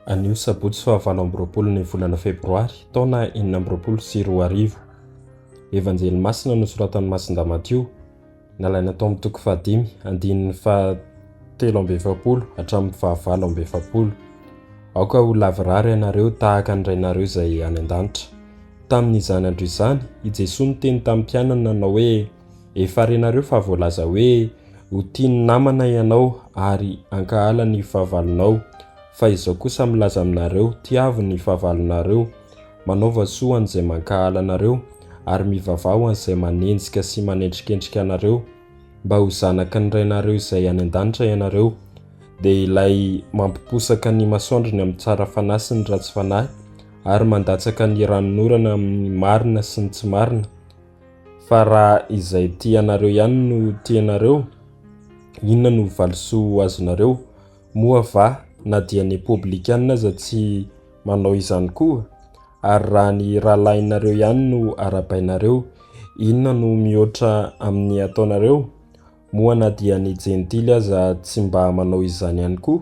Anio sabotsy fahavalo amby roapolo ny volana febroary taona enina amby roapolo sy roa arivo. Evanjely masina nosoratan'i Masindahy Matio, nalaina tao amin'ny toko fahadimy, andininy fahatelo amby efapolo hatramin'ny fahavalo amby efapolo. Aoka ho lavorary ianareo tahaka ny Rainareo izay any an-danitra. Tamin'izany andro izany, i Jesoa niteny tamin'ny mpianany nanao hoe, Efa renareo fa voalaza hoe ho tia ny namana ianao ary hankahala ny fahavalonao, fa izao kosa milaza aminareo, tiavo ny fahavalonareo, manaova soa an'izay mankahala anareo, ary mivavaha ho an'izay manenjika sy manendrikendrika anareo, mba ho zanaky ny Rainareo izay any an-danitra ianareo. Dia ilay mampiposaka ny masoandrony amin'ny tsara fanahy sy ny ratsy fanahy, ary mandatsaka ny ranonorana amin'ny marina sy ny tsy marina, Fa raha izay tianareo ihany no tianareo, inona no valisoa ho azonareo? Moa va na dia ny Repoblikanina aza tsy manao izany koa? Ary raha ny rahalahinareo ihany no arabainareo, inona no mihoatra amin'ny ataonareo? Moa na dia ny Jentily aza tsy mba manao izany ihany koa?